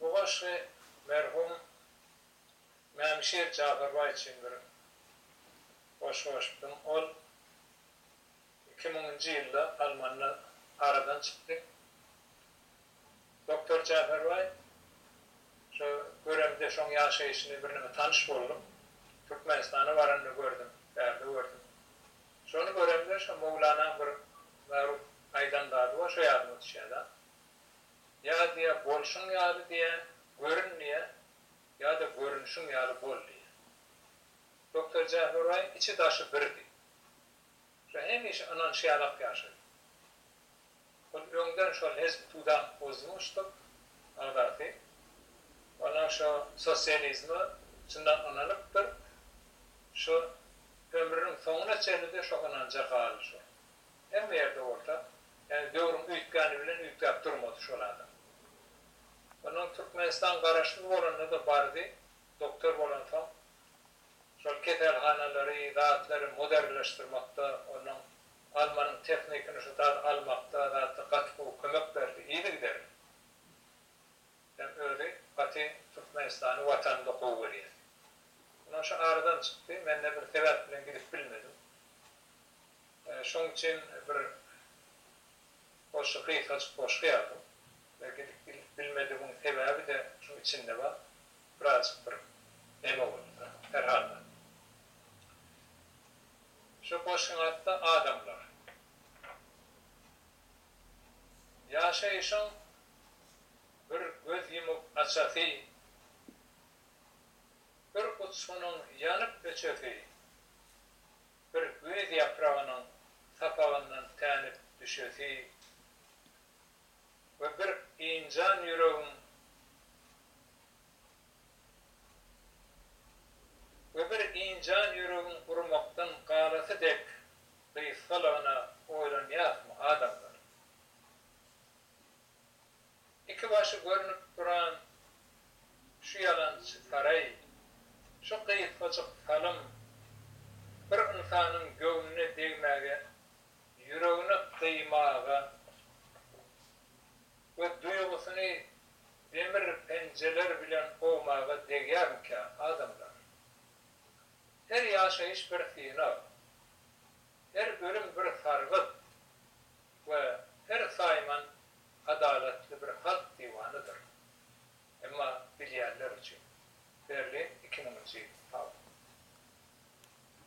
Bu goşgy merhum Mämişir Jafarbaý üçin bir goşgy goşupdym. Ol iki müňünji ýylda Almanda aradan çykdy. Doktor Jafarbaý şo göremde şoň ýaşaýşyny birneme tanyş boldum. Türkmenistana baranda gördüm, bärde gördüm. Şony göremde şo Möwlanaň bir magruh Aýdan zady-a şo ýadyma düşýär-ä. Ýa diýýär, bolşuň ýaly diýýär, görün diýýär, ýa-da görünişiň ýaly bol diýýär. Doktor Jähüraýyň içi-daşy birdi. Şo hemişe ynanşýarlak ýaşady. Ol öňden şol Hezbi Tudan Ozmuştuk agzasy. Onam şo sosializme çyndan ynanypdyr. Şo ömrüniň soňuna çenli-de şo ynanja galyşyr. Hemme ýerde bolsa, ýagny döwrüň üýtgäni bilen üýtgäp durmady şol adam. Onuň Türkmenistan garaşsyz bolanda-da bardy, doktor bolansoň, şol keselhanalary, zatlary modernleşdirmekde, onuň Almanyň tehnikini şu zat almakda, zatda gaty gowy kömek berdi, yzygiderli. Hem özi gaty Türkmenistany, Watanyny gowy görýär. Onuň şu aradan çykdy, men-de bir sebäp bilen gidip bilmedim. Şoň üçin bir goşgy gysgajyk goşgy ýazdym we gidip bilmedigiň sebäbi-de şuň içinde bar. Birazjyk bir näme boldy-da, herhalda. Şu goşgyň ady-da Adamlar. Ýaşaýşyň bir göz ýumup açasy, bir uçgunyň ýanyp öçesi, bir güýz ýapragynyň sapagyndan tänip düşesi we bir ynjan ýüregiň we bir ynjan ýüregiň urmakdan galasy dek gysgalygyna oýlanýasmy, adamlar? Iki başy görnüp duran şu ýalançy saraý, şu gysgajyk salym bir ynsanyň göwnüne degmäge, ýüregini gyýmaga we duýgusyny demir penjeler bilen owmaga degýärmikä, adamlar? Her ýaşaýyş bir synag, her ölüm bir sargyt. we her saýman adalatly bir halk diwanydyr. Emma bilýänler üçin. Berlin iki müňünji ýyl. Hawa.